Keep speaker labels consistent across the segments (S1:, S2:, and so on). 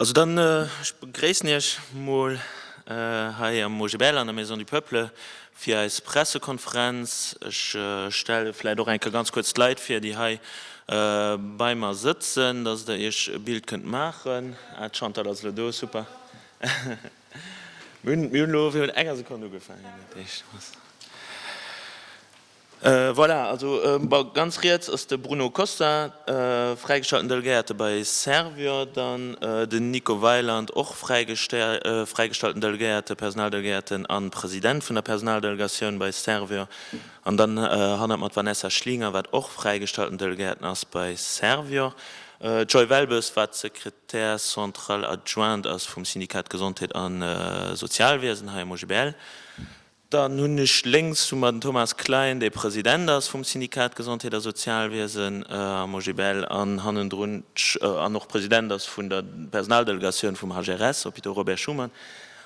S1: Also dann, ech begréissen Iech mol hei am OGBL an der Maison du Peuple. Fir eis Pressekonferenz, ech stelle vläit och eng Kéier ganz kuerz d'Leit vir, déi hei bei mer sëtzen, dass Der Iech e Bild kënnt maachen. Ah, d'Chantal ass elo do, super. Mir hunn elo virun enger Sekonn ugefaangen. Voilà, also bon, ganz riets ass de Bruno Costa, fräigeschalten Delegéierte bei Servior, dann den Nico Weiland, och fräigeschalten Delegéierte, Personaldelegéierten a President vun der Personaldelegatioun bei Servior, an dann hannert mer d'Vanessa Schlinger, wat och fräigeschalten Delegéierten ass bei Servior, d'Joy Welbes, wat Secrétaire centrale adjointe ass vum Syndikat Gesondheet a Sozialwiesen hei am OGBL. Dann hunn ech lénks vu mer den Thomas Klein, dee President ass vum Syndikat Gesondheet a Sozialwiesen am OGBL an hannendrun an och President ass vun der Personaldelegatioun vum HRS, Hôpitaux Robert Schuman.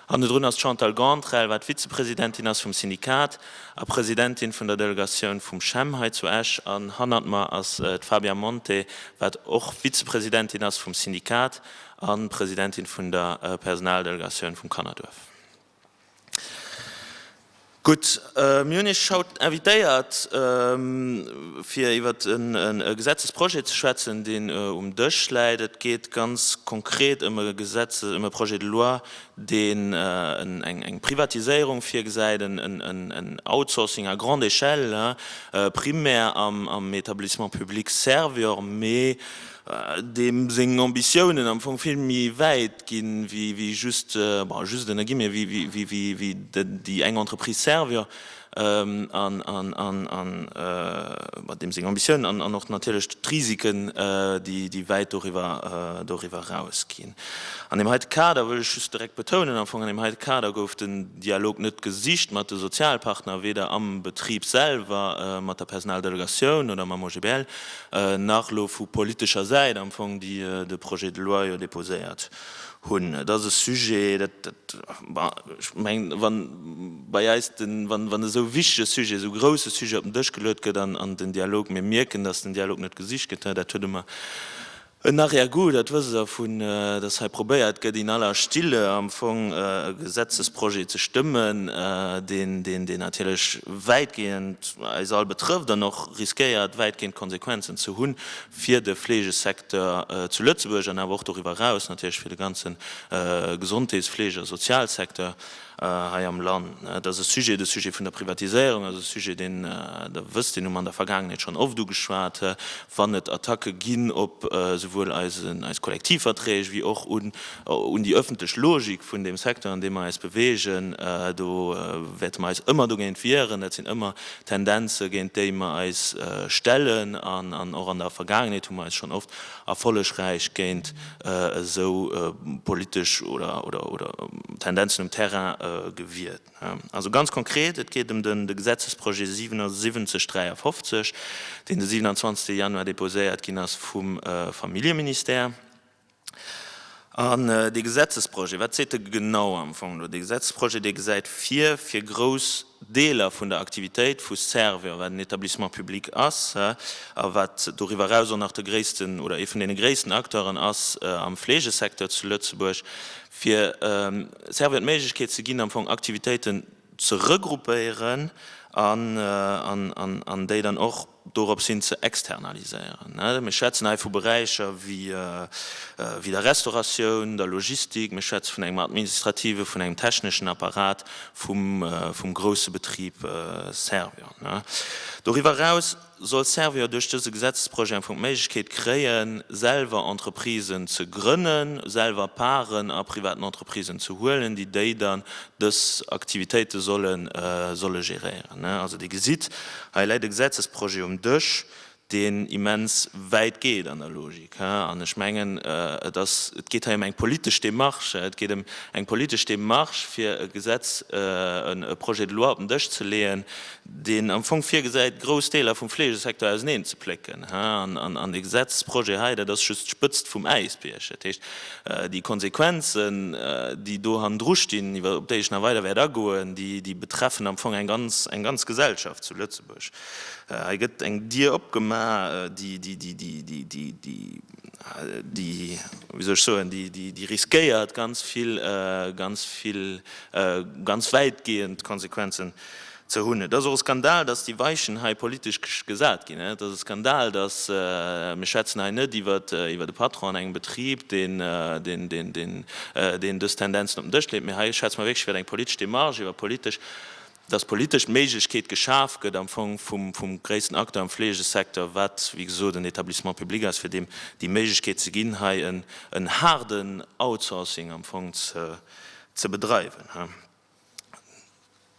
S1: Hannendrun ass d'Chantal Gauntrell, wat Vizepresidentin ass vum Syndikat a Presidentin vun der Delegatioun vum CHEM hei zu Esch. An hannert mer ass d'Fabia Monte, wat och Vizepresidentin ass vum Syndikat a Presidentin vun der Personaldelegatioun vum Kannerduerf. Gutt, mir hunn Iech haut invitéiert, fir iwwer e Gesetzesprojet ze schwätzen, deen um Dësch läit. Et geet ganz konkret ëm e Projet de loi, deen eng Privatiséierung virgesäit, en Outsourcing à grande échelle, primär am Etablissement public Servior, mee deem seng Ambitiounen am Fong vill méi wäit ginn, wéi just, bon, just ënner Guillemets, wéi déi eng Entreprise Servior, an deem seng Ambitiounen an och natierlech d'Risiken, déi wäit doriwwer eraus ginn. An deem heite Kader wëll ech just direkt betounen, am Fong an deem heite Kader gouf den Dialog net gesicht mat de Sozialpartner, weder am Betrib selwer, mat der Personaldelegatioun oder mam OGBL, nach elo vu politescher Säit am Fong, déi de Projet de loi jo déposéiert hunn. Et ass e Sujet, dat, bon, ech mengen, wa bei eis de, wann esou e wichtege Sujet, esou e grouse Sujet op den Dësch geluet gëtt an den Dialog, mir mierken, datt den Dialog net gesicht gëtt, dat huet e mer, En Arrière-goût, dat wësst Der, vu dass hei probéiert gëtt, in aller Stille am Fong e Gesetzesprojet ze stëmmen, deen natierlech wäitgehend eis all betrëfft an och riskéiert, wäitgehend Konsequenzen ze hu fir de Fleegesecteur zu Lëtzebuerg an awer och doriwwer eraus natierlech fir de ganze Gesondheetsfleege a Sozialsecteur. hei am Land. Et ass e Sujet, de Sujet vun der Privatiséierung, also e Sujet, deen Der wësst, deen hu mer an der Vergaangenheet schonn oft ugeschwat, wann et Attacke ginn op esouwuel eis Kollektivverträg wéi och un déi öffentlech Logik vun deem Secteur, an deem mer eis bewegen. Do wäerte mer eis ëmmer dogéint wieren. Dat sinn ëmmer Tendenze, géint déi mer eis stellen, an och an der Vergaangenheet hu mer eis schonn oft Erfollegräich géint esou politesch Tendenzen um Terrain gewiert. Also ganz konkret, et geet ëm de Gesetzesprojet 7753, deen de 27 Januar deposéiert ginn ass vum Familljeministère. An dee Gesetzesprojet, wat seet e genau am Fong elo? Dee Gesetzesprojet, dee gesäit vir, fir grouss, Deeler vun der Aktivitéit vu Servior, wat en Etablissement public ass a wat doriwwer eraus och nach de gréissten oder ee vun deene gréissten Acteuren ass am Fleegesecteur zu Lëtzebuerg, fir Servior d'Méiglechkeet ze ginn, am Fong Aktivitéiten ze regruppéieren an déi dann och. doropshin ze externaliséieren. Mir schwätzen hei vu Beräicher wéi der Restauratioun, der Logistik, mir schwätze vun engem administrative, vun engem techneschen Apparat vum grousse Betrib Servior. Doriwwer eraus soll Servior duerch dëse Gesetzesprojet am Fong d'Méiglechkeet kréien, selwer Entreprisen ze grënnen, selwer Parten a privaten Entreprisen ze huelen, déi déi dann dës Aktivitéite solle géréieren. Also Dir gesitt, Hei läit e Gesetzesprojet um Dësch, deen immens wäit geet an der Logik. An ech mengen, et ass, et geet hei ëm eng politesch Démarche. Et geet ëm eng politesch Démarche, fir e Gesetz, e Projet de loi op den Dësch ze leeën, deen am Fong virgesäit, grouss Deeler vum Fleegesecteur auseneenzeplécken. An dee Gesetzesprojet hei, dat ass just d'Spëtzt vum Äisbierg. Dat heescht. Déi Konsequenzen, déi do hannendru stinn, op déi ech nach weider wäert agoen, déi betreffen am Fong eng ganz Gesellschaft zu Lëtzebuerg. Hei gëtt eng Dier opgemaach, déi, wéi soll ech soen, déi riskéiert ganz vill, ganz vill, ganz wäitgehend Konsequenzen Ze hunn. Et ass och e Skandal, datt déi Weichen hei politesch gesat ginn. Et ass e Skandal, datt, mir schwätzen hei net iwwer e Patron an engem Betrib, deen dës Tendenzen op den Dësch leet, mä hei schwätze mer wierklech iwwer eng politesch Demarche, iwwer politesch, datt politesch d'Méiglechkeet geschaf gëtt am Fong vum gréissten Acteur am Fleegesecteur, wat wéi gesot en Etablissement public ass, fir deem déi Méiglechkeet ze ginn, hei en haarden Outsourcing am Fong ze bedreiwen.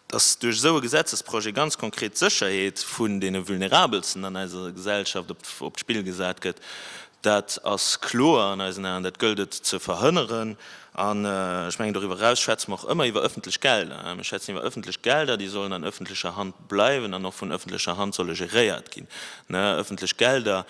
S1: dass duerch esou e Gesetzesprojet ganz konkret d'Sécherheet vun deene Vulnerabelsten an eiser Gesellschaft op d'Spill gesat gëtt, dat ass kloer an eisen Aen. Dat gëllt et ze verhënneren. An ech mengen, doriwwer eraus schwätze mer och ëmmer iwwer ëffentlech Gelder. Mir schwätzen iwwer ëffentlech Gelder, déi sollen an ëffentlecher Hand bleiwen an och vun ëffentlecher Hand solle geréiert ginn. Ëffentlech Gelder,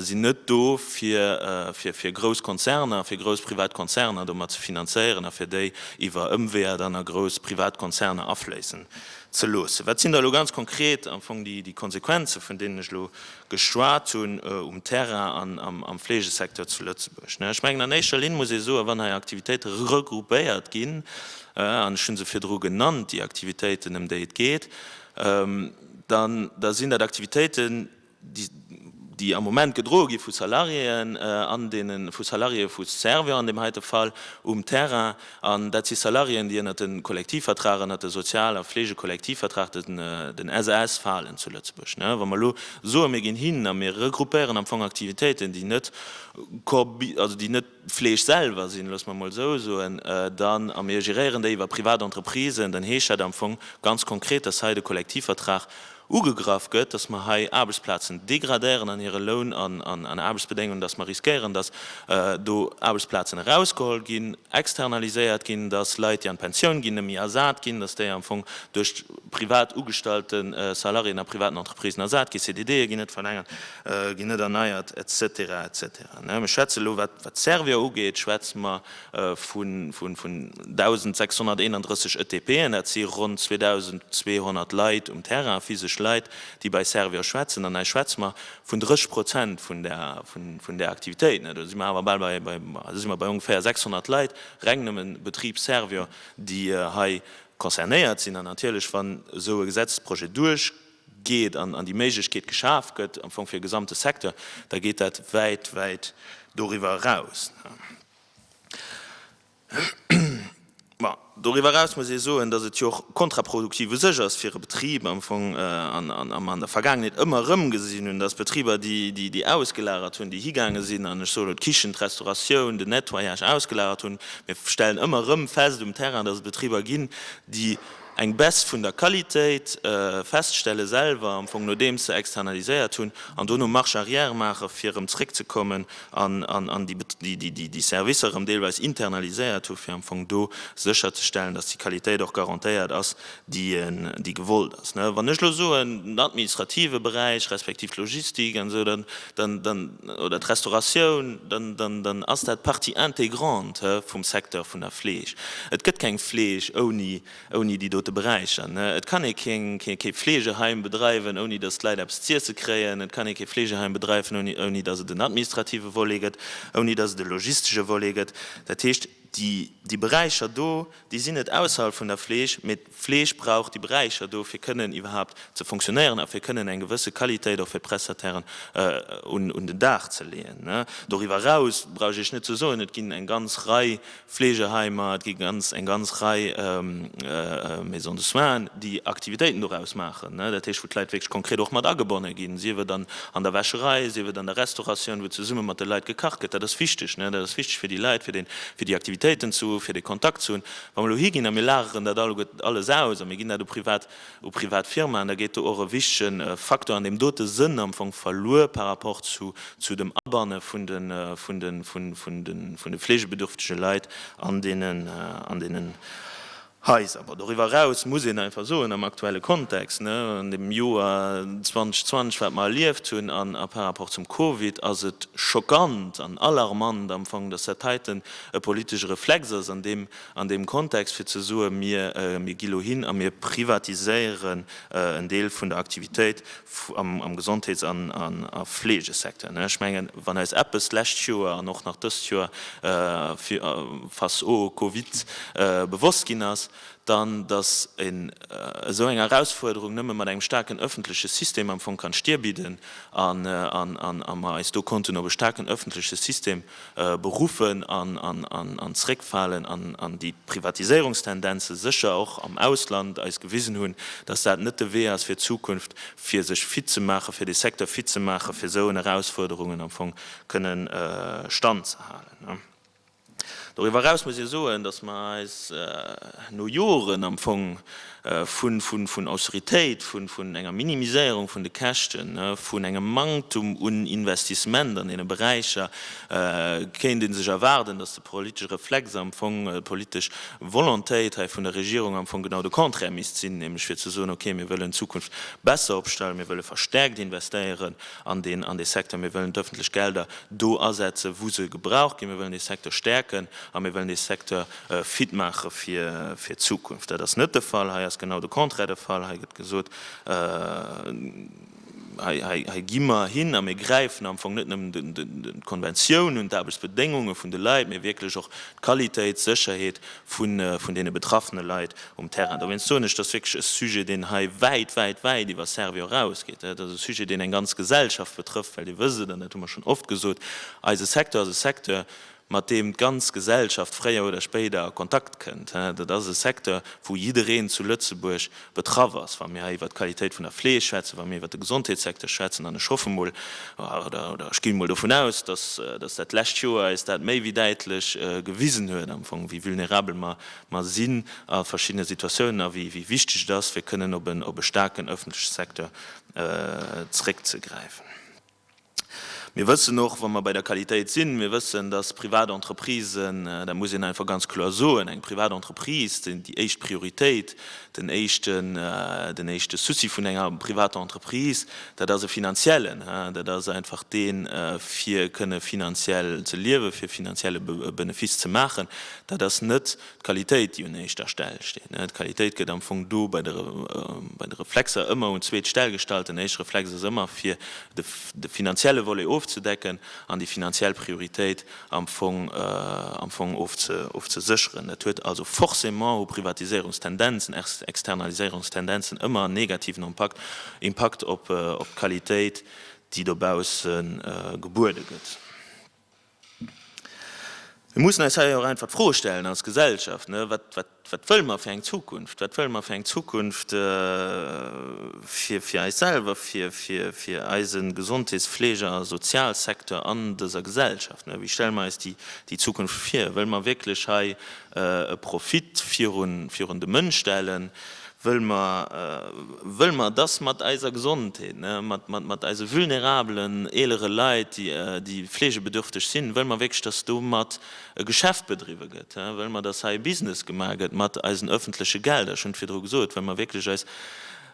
S1: sinn net do fir grouss Konzerner, fir grouss privat Konzerner domat ze finanzéieren a fir déi iwwer Ëmweeër dann a grouss privat Konzerner afléissen ze loossen. Wat sinn da elo ganz konkret am Fong déi Konsequenzen, vun deenen ech elo geschwat hunn, um Terrain an am Fleegesecteur zu Lëtzebuerg? Ech mengen, an éischter Linn muss ee soen, wann hei Aktivitéite regroupéiert ginn, an ech hu se virdru genannt, déi Aktivitéiten, ëm déi et geet, da sinn dat Aktivitéiten, déi am Moment gedroe gi vu Salariéen an deene vu Salariéë vu Servior an deem heite Fall um Terrain. An dat si Salariéen, déi ënnert de Kollektivvertrag, ënnert de Sozial a Fleegekollektivvertrag, den SAS, falen zu Lëtzebuerg. Wa mer elo soe mir ginn hin a mir regroupéieren am Fong Aktivitéiten, déi net, also déi net, Fleesch selwer sinn, loosse mer mol esou soen, dann, a mir geréieren déi iwwer privat Entreprisen, dann heescht dat am Fong ganz konkret, dass hei de Kollektivvertrag ugegraff gëtt, dass mer hei Aarbechtsplazen degradéieren an hire Loun an Aarbechtsbedéngungen, dass mer riskéieren, dass do Aarbechtsplazen erausgeholl ginn, externaliséiert ginn, dass Leit, déi an d'Pensioun ginn, net méi ersat ginn, dass déi am Fong duerch privat ugestallte Salariéen a privaten Entreprisen ersat ginn, CDDe ginn net verlängert, ginn net erneiert, et cetera, et cetera. Ech schwätze elo, wat d'Servier ugeet, schwätze mer vu 1.631 ETPen. Dat si ronn 2.200 Leit um Terrain, physesch Leit, déi bei Servier schwätzen. An hei schwätze mer vun 30 Prozent vun där Aktivitéit. Do si mer awer bal bei, do si mer bei ongeféier 600 Leit, reng nëmme Betrib Servier, déi hei concernéiert sinn. An natierlech, wann esou e Gesetzesprojet duerch, geet an déi Méiglechkeet geschaf gëtt am Fong fir e gesamte Secteur, da geet dat wäit, wäit doriwwer eraus. Bon, doriwwer eraus muss ee soen, datt et jo och kontraproduktiv u sech ass fir e Betrib am Fong, an a mer an der Vergaangenheet ëmmer erëm gesinn hunn, datt Betriber, déi ausgelagert hunn, déi higaange sinn an, ech soen elo, d'Kichen, d'Restauratioun, den Nettoyage ausgelagert hunn, mir stellen ëmmer erëm fest um Terrain, datt et Betriber ginn, déi, eng Baisse vun der Qualitéit feststelle selwer, am Fong nodeems se externaliséiert hunn, an dono Marche arrière maache fir erëm zréckzekommen an déi Servicer erëm deelweis internaliséiert hu fir am Fong do sécherzestellen, datt déi Qualitéit och garantéiert ass, déi gewollt ass. Wann ech elo soen, den administrative Beräich respektiv d'Logistik an esou, dann. oder d'Restauratioun, dann, dann ass dat Partie intégrante vum Secteur vun der Fleeg. Et gëtt keng Fleeg ouni, ouni déi dote Beräicher. Et kann ee kee, kee, kee Fleegeheim bedreiwen, ouni datt d'Leit eppes z'iesse kréien. Et kann ee kee Fleegeheim bedreiwen, ouni, ouni datt et en administrative Volet gëtt, ouni datt et e logistesche Volet gëtt. Dat heescht, déi, déi Beräicher do, déi sinn net ausserhalb vun der Fleeg, mee. D'Fleeg brauch déi Beräicher do fir kënnen iwwerhaapt ze fonctionnéieren a fir kënnen eng gewësse Qualitéit och fir d'Prestatairen un den Dag ze leeën. Doriwwer eraus brauch ech Iech net ze soen, et ginn eng ganz Rei Fleegeheimer, et gi eng ganz Rei Maisons de soins, déi Aktivitéiten doraus maachen, dat heescht wou d'Leit wierklech konkret och mat agebonne ginn, sief et an der Wäscherei, sief et an der Restauratioun, wou zesumme mat de Leit gekacht gëtt. Dat ass wichteg, dat ass wichteg fir déi Leit, fir déi Aktivitéiten ze hu fir de Kontakt ze hunn. Wa mer elo higinn a mir lageren dat alleguer alles aus a mir ginn dat u privat, u privat Firmaen, da geet do och e wichtigen Faktor an deem dote Sënn am Fong verluer par rapport zu, zu dem Abanne vun de, vun de, vun, vun de, vun de fleegebedürftige Leit an deenen, an deenen Haiser. Bon, doriwwer eraus muss een einfach soen, am aktuelle Kontext, ne, an deem Joer 2020, wat mer erlieft hunn, an, a par rapport zum Covid, ass et schockant an alarmant am Fong, dass dat heiten e politesche Reflex ass an deem an deem Kontext, fir ze soen, mir mir gi lo hin a mir privatiséieren en Deel vun der Aktivitéit am Gesondheets an a Fleegesecteur. Ech mengen, wann eis eppes d'lescht Joer an och nach dëst Joer face au Covid bewosst ginn ass, dann datt een esou eng Erausfuerderung nëmme mat engem staarken öffentleche System am Fong kann Stir bidden an a mer eis do konnten op e staarken öffentleche System Beruffen an zréckfalen an déi Privatiséierungstendenze sécher och am Ausland eis gewisen hunn, datt dat net de Wee ass fir d'Zukunft, fir sech fit ze maachen, fir dee Secteur fit ze maachen, fir esou en Erausfuerderungen am Fong kënne Stand ze halen. Doriwwer eraus muss ee soen, datt mer eis no Joren am Fong vun Austeritéit, vun enger Minimiséierung vun de Käschten, vun engem Manktum un Investissement an deene Beräicher, kéint ee sech erwaarden, datt de politesche Reflex, am Fong d'politesch Volontéit hei vun der Regierung am Fong genau de Contraire misst sinn, nämlech fir ze soen, okay, mir wëllen d'Zukunft besser opstellen, mir wëlle verstärkt investéieren an dee Secteur, mir wëllen d'öffentlech Gelder do asetzen, wou se gebraucht ginn, mir wëllen dee Secteur stäerken a mir wëllen dee Secteur fit maache fir d'Zukunft. Dat ass net de Fall. Hei ass genau de Contraire de Fall. Hei gëtt gesot, Hei gi mer hin a mir gräifen am Fong net nëmmen d'Konventioun un, d'Aarbechtsbedéngunge vun de Leit, mee wierklech och d'Qualitéit, d'Sécherheet vun deene betraffene Leit um Terrain. Dowéinst soen ech, dat ass wierklech e Sujet, deen hei wäit, wäit, wäit iwwer Servior erausgeet. Dat ass e Sujet, deen eng ganz Gesellschaft betrëfft, well Dir wësst et, an dat hu mer schonn oft gesot, Eise Secteur ass e Secteur, mat deem d'ganz Gesellschaft fréier oder spéider a Kontakt kënnt. Dat ass e Secteur, wou jiddereen zu Lëtzebuerg betraff ass, wa mir hei iwwert d'Qualitéit vun der Fleeg schwätzen, wa mir iwwert de Gesondheetssecteur schwätzen. An ech hoffe emol, oder ech ginn emol dovun aus, datt dat lescht Joer eis dat méi wéi däitlech gewisen huet, am Fong, wéi vulnerabel mer sinn a verschiddene Situatiounen a wéi wichteg et ass, fir kënnen op e staarken öffentleche Secteur zréckzegräifen. Mir wëssen och, wa mer bei der Qualitéit sinn, mir wëssen, dass privat Entreprisen, dat muss een einfach ganz kloer soen, eng privat Entreprise, déi éischt Prioritéit, den éischten, den éischte Souci vun enger privater Entreprise, dat ass e finanziellen. Dat ass einfach deen, fir kënne finanziell ze liewen, fir finanzielle Benefice ze maachen. Dat ass net D'Qualitéit, déi un éischter Stell steet. D'Qualitéit gëtt am Fong do bei de Reflexer ëmmer un d'zweet Stell gestallt. Den éischte Reflex ass ëmmer, fir de finanzielle Volet ofzedecken an déi finanziell Prioritéit am Fong am Fong ofzesécheren. Dat huet also forcément, hu Privatiséierungstendenzen, Externaliséierungstendenzen ëmmer en negativen Impakt, Impakt op d'Qualitéit, déi dobausse gebuede gëtt. Mir mussen eis hei och einfach d'Froe stellen als Gesellschaft, Wat wëlle mer fir eng Zukunft? Wat wëlle mer fir eng Zukunft fir eis selwer, fir eise Gesondheets-, Fleege a Sozialsecteur an dëser Gesellschaft? Wéi stelle mer eis déi Zukunft vir? Wëlle mer wierklech hei e Profit virun de Mënsch stellen, wëll mer, wëll mer, dass mat eiser Gesondheet, ne, mat, mat, mat eise vulnerabelen eelere Leit, déi, déi fleegebedürfteg sinn, wëll mer wierklech, dass domat e Geschäft bedriwwe gëtt, he, wëll mer, dass hei e Business gemaach gëtt mat eisen öffentleche Gelder, ech hunn et virdru gesot, wëll mer wierklech eis,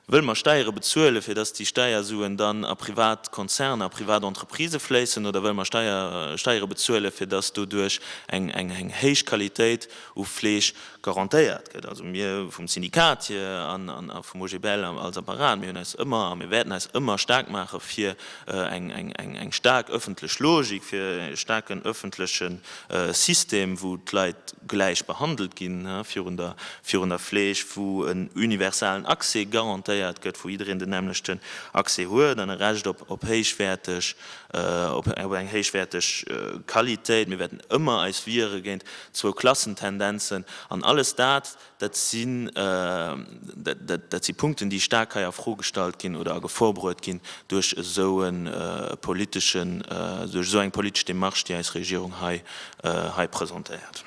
S1: Wëll mer Steiere bezuelen, fir dass déi Steiersuen dann a privat Konzerner, a privat Entreprisë fléissen, oder wëll mer Steiere bezuelen, fir dass doduerch eng héich Qualitéit u Fleeg garantéiert gëtt? Also mir vum Syndikat hier a vum OGBL als Apparat, mir hunn eis ëmmer a mir wäerten eis ëmmer staark maache fir eng staark ëffentlech Logik, fir e staarken ëffentlechen e System, wou d'Leit gläich behandelt ginn virun der Fleeg, wou en universalen Accès garantéiert gëtt, wou jiddereen den nämmlechten Accès huet an e Recht op héichwäerteg, op eng héichwäerteg Qualitéit. Mir wäerten ëmmer eis wiere géint Zwou-Klassen-Tendenzen an alles dat, Dat si Punkten, déi staark hei a Fro gestallt ginn oder a Gefor bruet ginn duerch esou eng politesch Demarche, déi eis Regierung hei presentéiert.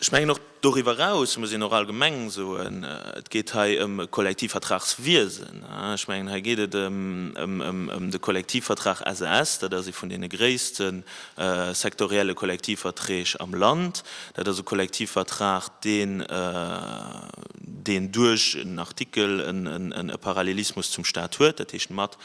S1: Ech mengen, och doriwwer eraus muss een och allgemeng soen, et geet hei ëm e Kollektivvertragswiesen. Ech mengen, hei geet et ëm de Kollektivvertrag SAS. Dat ass ee vun deene gréisste Sektorielle Kollektivverträg am Land, dat ass e Kollektivvertrag, deen deen duerch en Artikel e Parallelismus zum Stat huet, dat heescht mat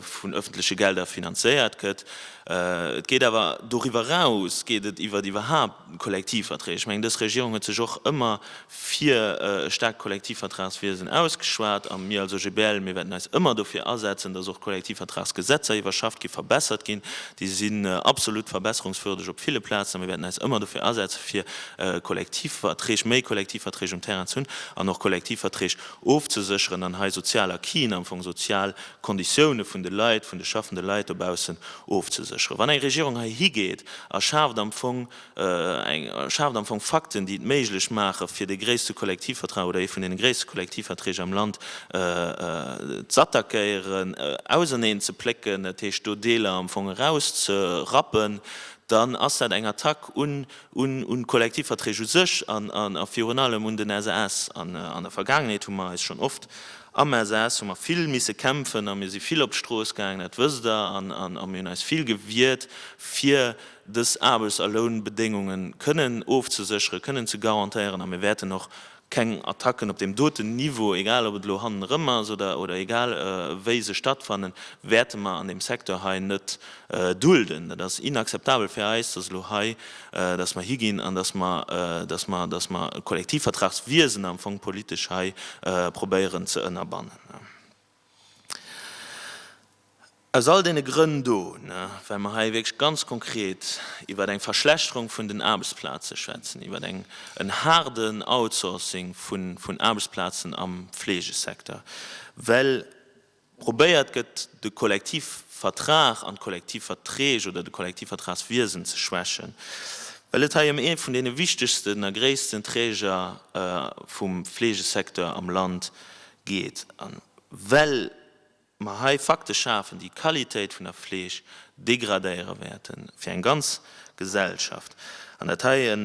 S1: vun öffentliche Gelder finanzéiert gëtt. Et geet awer doriwwer eraus, geet et iwwert iwwerhaupt. Kollektivverträg, ech mengen dës Regierung huet sech och ëmmer fir e staarkt Kollektivvertragswiesen ausgeschwat a mir als OGBL, mir wäerten eis ëmmer dofir asetzen, datt och Kollektivvertragsgesetzer iwwerschafft ginn, verbessert ginn. Déi sinn absolut verbesserungswürdeg op ville Plazen a mir wäerten eis ëmmer dofir asetzen, fir Kollektivverträg, méi Kollektivverträg um Terrain ze hunn an och Kollektivverträg ofzesécheren an hei sozial Acquisen, am Fong sozial d'Konditioune vun de Leit, vun de schaffende Leit dobaussen ofzesécheren. Wann eng Regierung heihi geet a schaaft am Fong eng, schaaft am Fong Fakten, déi et méiglech maachen, fir dee gréisste Kollektivvertrag oder ee vun deene gréisste Kollektivverträg am Land z'attackéieren, auserneen ze plécken, dat heescht do Deeler am Fong erauszerappen, dann ass dat eng Attack un d'Kollektivverträg u sech a virun allem un den SAS. An der Vergaangenheet hu mer eis schonn oft Am Elsass hu mer vill misse kämpfen a mir si vill op d'Strooss gaangen, dat wësst Der, a mir hunn eis vill gewiert, fir dës Aarbechts a Lounbedéngunge kënnen ofzesécheren, kënnen ze garantéieren. A mir wäerten och keng Attacken op deem doten Niveau, egal ob et elo hannen erëm ass oder egal wéi se stattfannen, wäerte mer an deem Secteur hei net Dulden. Dat ass inakzeptabel fir eis, dass elo hei, dass mer higinn an dass mer, dass mer, dass mer e Kollektivvertragswiesen am Fong politesch hei probéieren ze ënnerbannen. Aus all deene Grënn do, well mer hei wierklech ganz konkret iwwert eng Verschlechterung vun den Aarbechtsplaze schwätzen, iwwert en haarden Outsourcing vun Aarbechtsplazen am Fleegesecteur, well, Probéiert gëtt, de Kollektivvertrag an d'Kollektivverträg oder de Kollektivvertragswiesen ze schwächen, well et hei ëm ee vun deene wichtegsten a gréissten Träger vum Fleegesecteur am Land geet a well mer hei Fakte schafen, déi d'Qualitéit vun der Fleeg degradéiere wäerten, fir eng ganz Gesellschaft, an dat hei e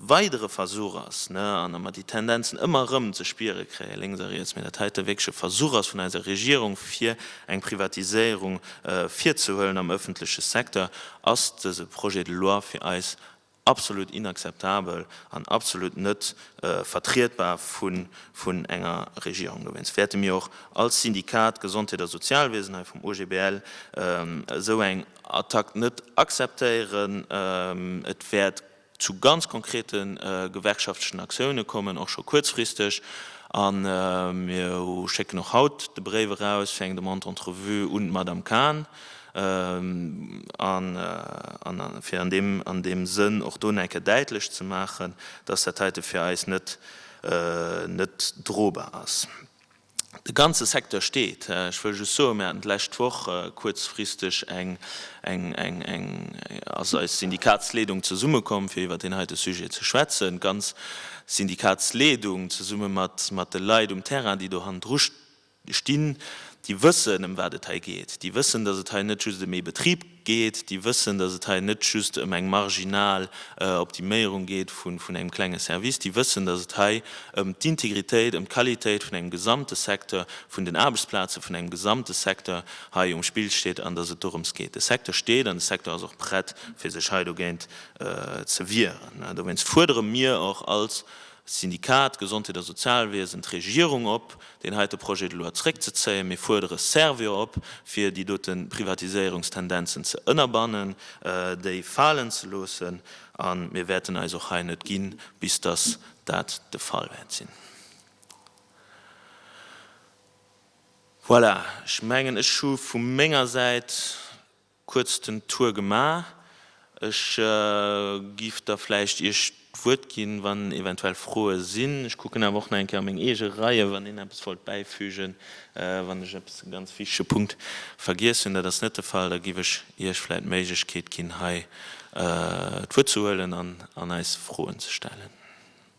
S1: weidere Versuch ass, an datt mer déi Tendenzen ëmmer erëm ze spiere kréien, lénks a riets, mä datt hei e wierkleche Versuch ass vun eiser Regierung, fir eng Privatiséierung virzehuelen am öffentleche Secteur, ass dese Projet de loi fir eis absolut inakzeptabel an absolut net vertrietbar vun enger Regierung. Dowéinst wäerte mir och als Syndikat Gesondheet a Sozialwiesen hei vum OGBL esou eng Attack net akzeptéieren. Et wäert zu ganz konkrete gewerkschaftlechen Aktioune kommen, och scho kuerzfristeg. A mir schécken och haut de Bréif eraus fir eng Demande d'entrevue un d'Madame Kahn, fir an deem Sënn och do nach eng Kéier däitlech ze maachen, dass dat heite fir eis net drobar ass. De ganze Secteur steet. Ech wëll just soen, mir haten d'lescht Woch kuerzfristeg eng, eng, eng, eng, ass eis Syndikatsleedung zesummekomm, fir iwwert deen heite Sujet ze schwätzen, d'ganz Syndikatsleedung zesumme mat, mat de Leit um Terrain, déi do hannendru stinn, déi wëssen, ëm wat et hei geet, déi wëssen, dass et hei net just ëm ee Betrib. geet, déi wëssen, dass et hei net just ëm eng marginal Optiméierung geet vun engem klenge Service, déi wëssen, dass et hei ëm d'Integritéit, ëm d'Qualitéit vun engem gesamte Secteur, vun den Aarbechtsplaze vun engem gesamte Secteur hei um Spill steet an dass et dorëms geet. De Secteur steet an de Secteur ass och prett, fir sech hei dogéint ze wieren. Dowéinst fuerdere mir och als Syndikat, d'Gesondheet a Sozialwiesen, d'Regierung op, deen heite Projet de loi zréckzezéien. Mir fuerdere Servior op, fir déi dote Privatiséierungstendenzen ze ënnerbannen, déi falen ze loossen. A mir wäerten eis och hei net gi bis dass dat de Fall wäert sinn. Voilà, ech mengen, ech hu vu menger Säit Kuerz den Tour gemaach. Ech giff da vläicht Iech d'Wuert ginn, wann eventuell Froe sinn. Ech kucken awer och nach eng Kéier a meng eege Reie, wann een eppes wollt bäifügen, wann ech eppes, e ganz wichtege Punkt vergiess hunn. Dat ass net de Fall. Da giff ech Iech vläicht d'Méiglechkeet ginn, hei d'Wuert ze huelen an eis Froen ze stellen.